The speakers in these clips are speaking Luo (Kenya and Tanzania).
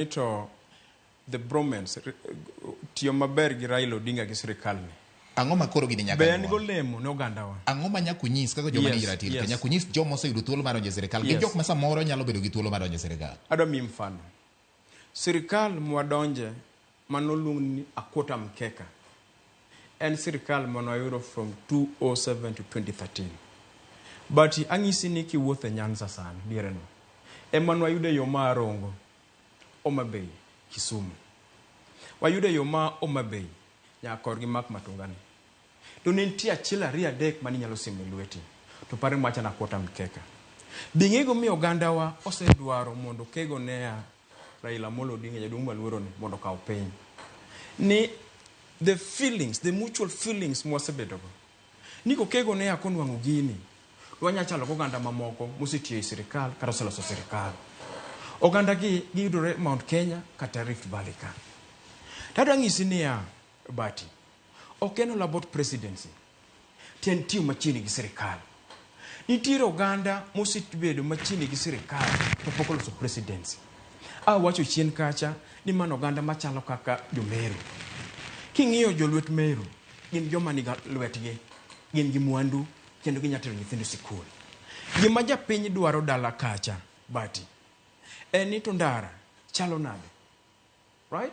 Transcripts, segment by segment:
Ni to the bromance tiyo maber gi Raila Odinga gi sirikal ni. Ang'o ma koro gini nyaka Be en golemo ne ogandawa? Ang'o ma nyaka unyis kaka joma nigi ratil? Yes. Nyaka unyis joma oseyudo thuolo mar donjo e sirkal gi jok ma samoro nyalo bedo gi thuolo mar donjo e sirkal. Adwa miyi mfano. Sirkal mwadonje manoluong ni Akota Mkeka. en sirkal mane wayudo from 2007 to 2013. But ang'isi ni kiwuotho e Nyanza sani diereno, ema ne wayudo e yo ma Rongo, Homa Bay, Kisumu. Wayudo e yo ma Homa Bay nyaka korgi mak Matungani. To ne nitie achiel ariyo adek mane inyalo siemo e lweti, to paro ni macha na quarter mkeka. Be ing'eyo gimomiyo ogandawa osedwaro mondo okego NEA Raila Amolo Odinga jaduong' maluoro ni mondo okaw piny ni the feelings the mutual feelings mwasebedogo ni kokego ne ako nwang'o gini to wanyalo chalo gi oganda mamoko mosetiyo e sirikal kata oseloso sirikal oganda gi giyudore Mount Kenya kata Rift Valley ka tadwa ng'isi niya Bati ok en all about presidency To en tiyo machiegni gi sirikal. Nitiere oganda mosebedo machiegni gi sirikal to pok oloso presidency. Awacho chien kacha ni mano oganda machalo kaka jo-Meru. King'iyo jolwet Meru, gin joma ni lwetgi, gin gi mwandu kendo ginya tero nyithindo sikul. Gima japiny dwaro dala kacha, Bati, en ni to ndara chalo nade? Right?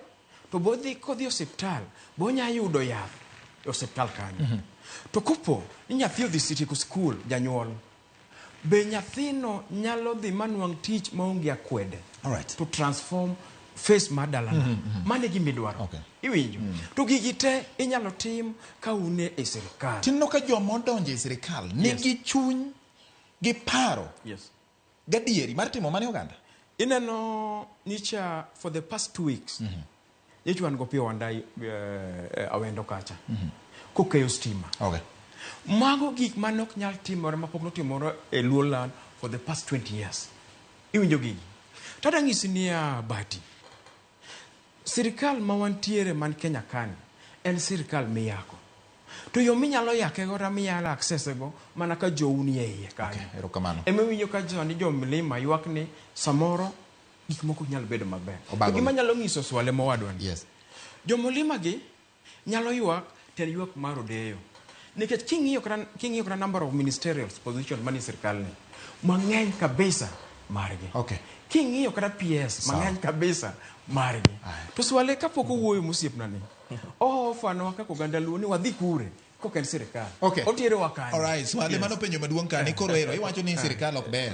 To bodhi kodhi osiptal, bonya yudo yath e osiptal kanyo. Mm -hmm. To kopo ni nyathi odhi sitieko skul, janyuol, be nyathino nyalo dhi manwang' tich maonge akwede All right. to transform face mar dalana mm -hmm. mane gima idwaro okay. iwinjo mm -hmm. to gigi te inyalo tim ka un e sirikal tinno ka joma odonjo e sirikal nigi yes. chuny gi paro yes. Gadieri mar timo mane oganda. Ineno nyicha for the past two weeks. Mm -hmm. Nyicha wan gopiyo wandai uh, eh, awendo kacha. Mm -hmm. Kokeyo stima. Okay. Mago gik mane ok nyal timore mapok notimore e Luoland for the past 20 years. Iwinjo gigi. Tada ng'isi niya bati. Sirkal ma wantiere man Kenya kani en sirkal miyako. To yo minyalo yake go minyalo access e go mana ka jou ni e iye kanyo. Okay, erokamano. Ema winyo ka jo ni jo mlima ywak ni samoro gik moko nyalo bedo maber. Gima nyalo nyiso swale mowadwa ni. Yes. Jo mlima gi Nyalo ywak tiend ywak mar Odeyo nikech king'iyo kata king'iyo kata number of ministerial position manie sirkal ni mang'eny kabisa margi. Okay. King'iyo kata PS Sawa. mang'eny kabisa margi. Aye. To swale kapok owuoyo mosiepna ni ohofanwa kaka oganda luo ni wadhi kure kok en sirkal. Okay. Oterowa kanye. Alright, swali Yes. mano penjo maduong' kani koro ero iwacho ni sirkal ok ber.